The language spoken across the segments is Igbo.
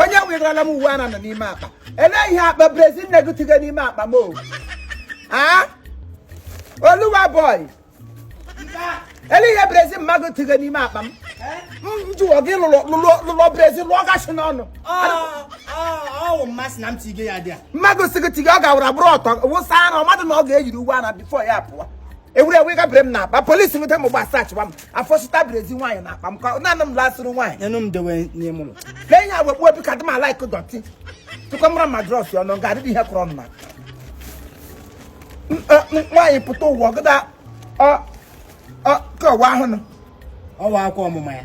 onye wegarala m uwe ara n'ime akpa elee ihe akpa brezia na-egotigo n'ime akpa m o a oluwa boy ele ihe brezia mma gotigo n'ime akpa m m jụọ gị lụlụ lụlụ lụlụ brezia lụọ gasị n'ọnụ ọwụ mmasị na m tige ya dị a mma gosigo tigo ọ ga-awụrụ abụrụ ọtọ wụsa ara ọ madụ na ọ ga-eyiri uwe ara before ya pụọ ewere uwe gabara m n'akpa police nweta m gba sachịwa m a fọsịta brezia nwaanyị n'akpa m ka naanị m lasịrị nwaanyị nyenụ m dewe n'ime ụlọ lee ihe agwa gbuo bika dị m like dirty tụkọ ma bra ma dross ya ọnụ ga adịdị ihe kọrọ m na M- ọ- m- nwaanyị pụta ụwa ọgada ọ ọ ka ụwa ahụ nọ ọwụ akwa ọmụma ya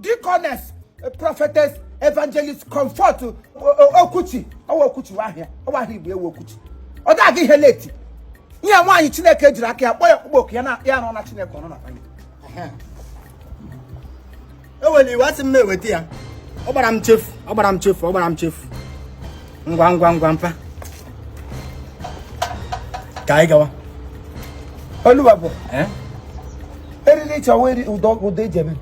Deaconess eh, Prophetess Evangelist Comfort eh, eh, Okwuchi ọwụ Okwuchi aha ya ọwụ aha Igbo ya wụ Okwuchi ọ dị aga ihe late ihe nwaanyị Chineke jiri aka ya kpọọ ya ọkpụkpọ oku ya na ya nọ na Chineke ọ nọ na famili ewere iwe asị m na-eweta ya ọ gbara m chefu ọ gbara m chefu ọ gbara m chefu ngwa ngwa ngwa mpa ka anyị gawa oluwa boy eh? eriri chọwa ụdọ ụdọ eji eme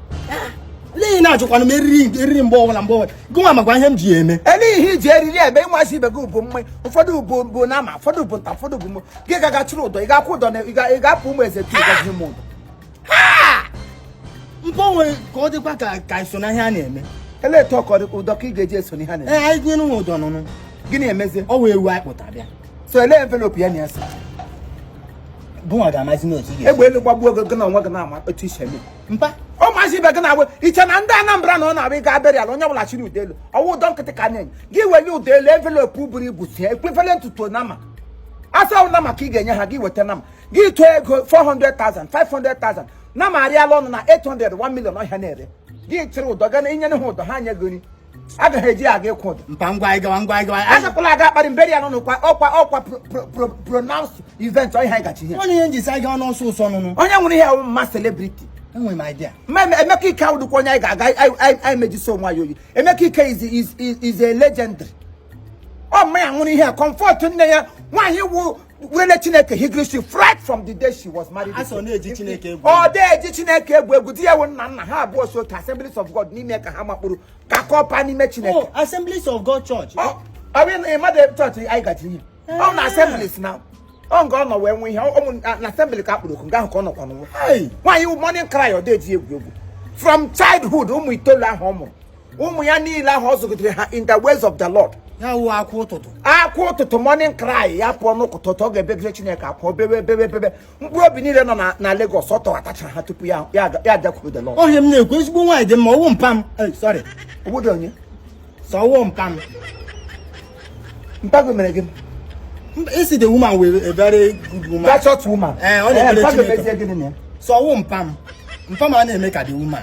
gịnị na-ajụkwana m eriri eriri mgbe ọbụla mgbe ọbụla gịnwa makwa ihe m ji eme elee ihe iji eriri ebe mazi ibe gị bụ mma ụfọdụ bu bu nama ụfọdụ bụ nta ụfọdụ bụ mma gị ga-aga chịrị ụdọ ị ga-akwụ ụdọ na ị ga-apụ ụmụ eze tu gazi m ụdọ mpọ nwere ka ọ dịkwa ka ka iso na ihe a na-eme ele etu ọkọ dị ụdọ ka ị ga-eji eso n'ihe a na-eme ee anyị tinye n'ụwa ụdọ nụnụ gịnị emezie ọwụ ewu anyị kpụtara bịa so ele envelope ya na ya so gịnwa ga-amazi n'otu ị ga-esi egbe elu gbagbuo gị gị na onwe gị na-ama otu isi eme mpa ọ mazi ibe gị na-agba iche na ndị Anambra na ọ na-abụ a gaa burial onye ọbụla chịrị ụdọ elu ọwụ ụdọ nkịtị ka na-enye gị weli ụdọ elu envelope buru ibu sie equivalent to nama asa ahụ nama ka ị ga-enye ha gị weta nama gị tụọ ego 400,000 500,000 nama arịala ọnụ na 800 1 million ọ ihe a na-ere gị chịrị ụdọ ga na inyere ha ụdọ ha nye gị nri agaghị eji aga ịkwụ ụdọ mpa ngwa anyị gawa ngwa anyị gawa anyị- agakwala aga akparị m burial n'ụlọ kwa ọkwa ọkwa pro- pro- pro- pronounced event ọ ihe anyị gaji ihe onye ihe njisi anyị gawa n'ọsọ ọsọ nụnụ onye nwere ihe mma celebrity enwere m idea Ma Eme- Emeka Ike awụdụkwa onye anyị ga-aga anyị- anyị anyị mejisi onwe anyị oyi Emeka Ike is is is is a legendary ọ mma ya nwụrụ ihe a comfort nne ya nwaanyị wụ Were Chineke hiri isi right from the day she was married. A sị ọ na-eji Chineke egwu. Ọ dị eji Chineke egwu egwu di ya wụ nna nna ha abụọ so ka Assemblies of God n'ime ka ha makpuru ka kọpa n'ime Chineke. Oh, Assemblies of God Church. Ọ bụ ị madụ chọọchị anyị gaji ihe. Ọ na Assemblies na ọ nga ọ nọ wee nwee ihe ụmụ na Assembly ka a kpọrọ oku nga ahụ ka ọ nọkwa nwụọ. Nwaanyị morning cry ọ dị eji egwu egwu. From childhood ụmụ itoolu ahụ ọ mụrụ. ụmụ ya niile ahụ ọ zụgidere ha in the ways of the Lord ya wụ akwa ụtụtụ akwa ụtụtụ morning cry ya pụọ n'ụtụtụ ọ ga-ebegide Chineke akwa bebe bebe bebe mkpụrụ obi niile nọ na- na Lagos ọ tọghatachara ha tupu ya ya aga- ya agakwuru the Lord ọ ihe a m na-ekwu ezigbo nwaanyị dị mma ọwụ mpa m Eh, sorry obodo onye sọ ọwụ mpa m mpa gị mere gịnị Mba, ị sị the woman wụ a very good woman that short woman Eh, ọ na-ekpere mpa gị Chineke. mezie gịnị na ya sọ ọwụ mpa m mpa m a na-eme ka the woman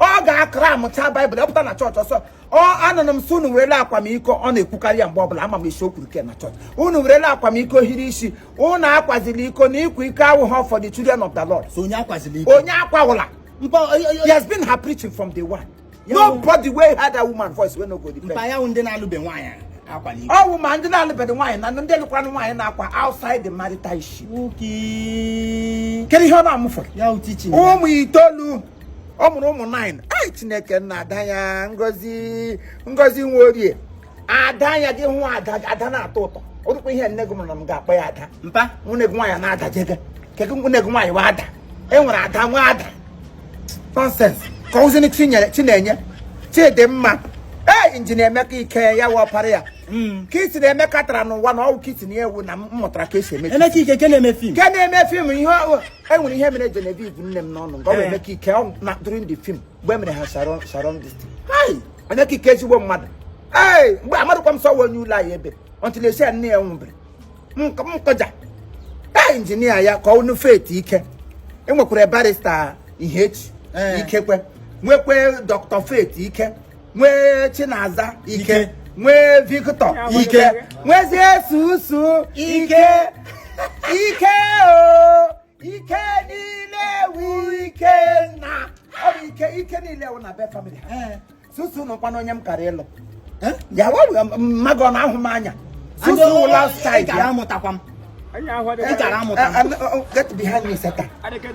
ọ ga-akra amụcha baịbụl ọ pụta na chọọchị ọ sị ọ anụrụ m sị unu werele akwamiko ọ na-ekwukarị ya mgbe ọbụla ama m isi o kwuru ke na chọọchị unu werele akwamiko hiri isi unu akwazila iko na ịkwa iko awụghọ for the children of the lord so onye akwazila iko onye akwawụla mpa o- o- he o- has been her preaching from day one Ya wụ- nobody wey heard that woman voice wey no go mpa repent ya wụ ndị na-alụbe nwaanyị a. ọwụ ma ndị na-alụbeghị nwaanyị na ndị lụkwara nwaanyị na-akwa outside the marital issue kedu ihe ọ na-amụfọ ụmụ itoolu ọ mụrụ ụmụ 9 ai chineke nna ada ya ngozi ngozi nwa orie ada ya gị hụ ada na-atọ ụtọ ọ dịkwa ihe nne gị mụrụ na m ga-akpọ ya ada mpa nwanne gị nwaanyị na-adajega kedu nwanne gị nwaanyị wụ ada e nwere ada wụ ada nonsens ke ọzọzi chinenye chidimma ee injinia emeka ike ya wụ ọpara ya hmm. kiti na emeka tara n'ụwa na ọwụ kiti na ewu na m mụtara ka esi eme emeka ike ke na-eme fim ke na-eme fim ihe enwere ihe mere Genevieve nne m n'ọnụ nke ọ eh. emeka ike na during the film mgbe e mere ha sharon sharon this thing emeka ike ezigbo mmadụ ee mgbe amadịkwa m sị ọ onye ụlọ anyị ebe until e sị ya nne ya nwụbere nkọja taa injinia ya ka ọnụ faith ike enwekwara barista ihechi eh. ike kwa nwekwa dọkịta faith ike nwee chinaza ike nwee victor ike nwezie susu ike ike o ike niile wu ike na ọ bụ ike ike niile wụ na be famili ha eh. susu nọkwa n'onye m kara ịlụ eh? ya mmadụ ọ na-ahụ m anya susu last child ya amụtakwa m get behind me satan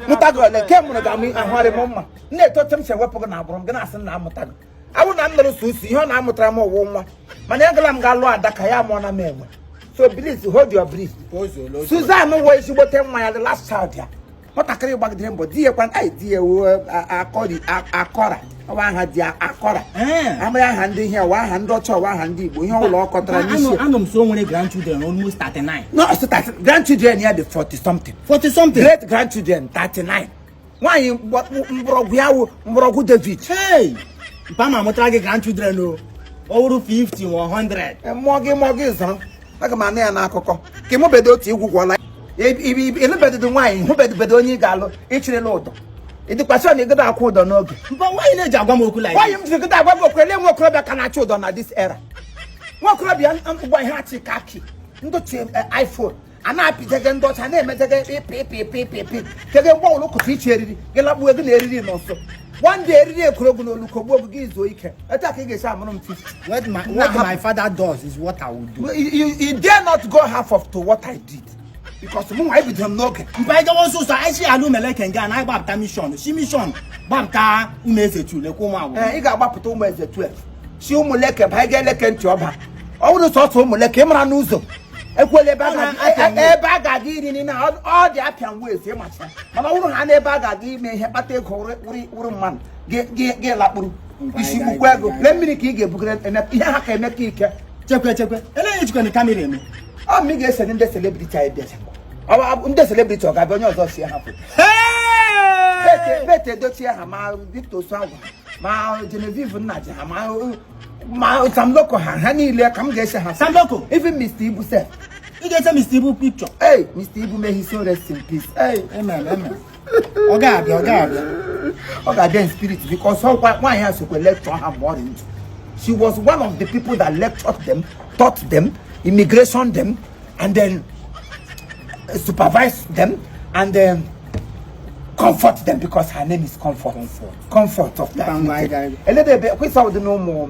mụta gị ole ke mụrụ ga-amụ ahụgharị m mma m na-etote m si ewepụ gị na agbụrụ m gị na-asị na amụta gị a wụ na m lụrụ susu ihe ọ na-amụtara m wụ nwa mana agala m ga-alụ adaka ya mụọ na m enwe so please hold your breath Suzanne wụ ezigbote nwa ya the last child ya nwatakịrị gbagidere mbọ di ya kwana anyị di ya akọri akọra ọwụ aha di akọra amaghị aha ndị ihe ọwụ aha ndị ọcha ọwụ aha ndị igbo ihe ọbụla ọ kọtara n'isi anụ m sị o nwere grandchildren almost 39 no grandchildren ya dị 40 something 40 something great grandchildren 39 nwaanyị mgbọrọgwụ ya wụ mgbọrọgwụ david mpa ma amụtara gị grandchildren o ọ wụrụ 50 ma 100 mụọ gị mụọ gị zọrọ aga m anụ ya n'akụkọ ka ị mụbedo otu igwu gwọla ị lụbedodo nwaanyị hụbedobedo onye ị ga-alụ ị chịrịla ụdọ ị dịkwa sure na-egodo akwụ ụdọ n'oge but why ị na-eji agwa m okwu like why i jiri godo agwa m okwu ele nwa okorobịa ka na-achụ ụdọ na this era nwa okorobịa ngwa ihe achị ka akị ndị ochie eh, iPhone a na-apịjege ndị ọcha na-emejege ịpịpịpịpịpị kege mgbe ọwụrụ kụta iche eriri gị lagbuo gị na eriri na so one day eriri ekoro gị n'olu kogbuo gị i zuo ike Etu a ka ị ga-esi amụrụ m 50. What my, what my father does is what I will do. You, you, you dare not go half of to what I did. Because mụ nwa ebido m n'oge. Mpa ije nwa ụsụsụ anyị si Umueleke nga na anyị gbapụta mission si mission gbapụta Umueze 2 lekwa ụmụ agwụ. Ee, ị ga-agbapụta Umueze 12. Si Umueleke ba ị ga-eleke ntị ọba. Ọ bụrụ sọsọ Umueleke ị mara n'ụzọ. Ekwela ebe a ga-aga ebe a ga-aga iri nri na all the Appian ways ị macha. Mana ọ bụrụ ha n'ebe a ga-aga ime ihe kpata ego wụrụ mmadụ gị lakpuru. isi gbukwa ego lee mmiri ka ị ga-ebugara ihe ha ka emeka ike chekwe chekwe olee ihe e jikwanụ kamera eme ọ ma ị ga-ese ndị celebrity anyị bịacha ndị celebrity ọ ga-abịa onye ọzọ see ha foto Pete Edochie ha ma Victor Osuagwu ma Genevieve Nnaji ha ma ma Sam Loco ha ha niile ka m ga-ese ha Sam Loco even Mr. Ibu sef ị ga-ese Mr. Ibu picture hey Mr. Ibu may his soul rest in peace hey amen amen ọ ga-abịa ọ ga-abịa ọ ga-abịa in spirit because ọkwa nwaanyị a sokwa lecture ha mgbe ọ dị ndụ she was one of the people that lectured them taught them immigration them and then uh, supervised them and then comfort them because her name is comfort comfort, comfort of that Bangladesh. eledebe kwesa ụdị na ụmụ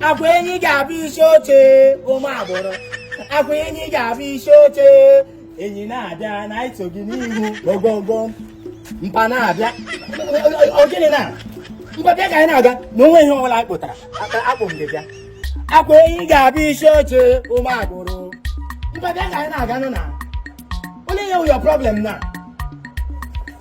akwa enyi ga-abụ isi oche ụmụ agbụrụ akwa enyi ga-abụ isi oche enyi na-abịa na iso gị n'ihu ogogo mpa na-abịa ọ gịnị na mpa bịa ka anyị na-aga na o nweghị ihe ọbụla a kpụtara akpụ mpa bịa akwa enyi ga-abụ isi oche ụmụ agbụrụ mpa bịa ka anyị na-aga nụ olee ihe wụ your problem na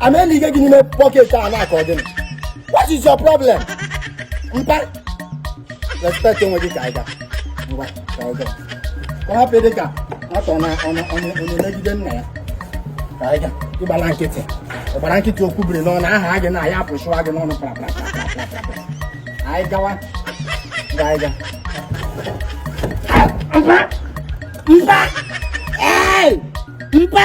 a na-eli ike gị n'ime pocket a na-akọ gịnị what is your problem mpa respect onwe gị ka anyị ga ngwa ka anyị ga ka ọ hapụ dị ka atọ na onye onye onye megide nna ya ka anyị ga ị gbala nkịtị ọ gbara nkịtị okwu biri n'ọnụ aha gị na ya apụchụwa gị n'ọnụ kpara anyị gawa ka anyị ga mpa mpa ee mpa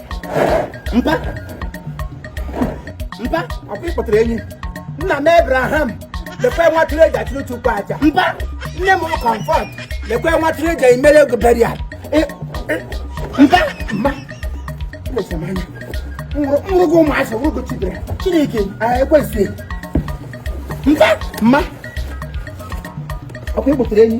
mpa mpa ọkwa ị kpụtara enyi nna m Abraham lekwe nwa atụrụ e ji achụrụ chukwu aja mpa nne m Comfort lekwe nwa atụrụ e ji emere gị burial mpa mma mmesemanya nwụrụgo ụmụazị nwụrụgo chidere chineke ekwesịghị mpa mma ọkwa ị kpụtara enyi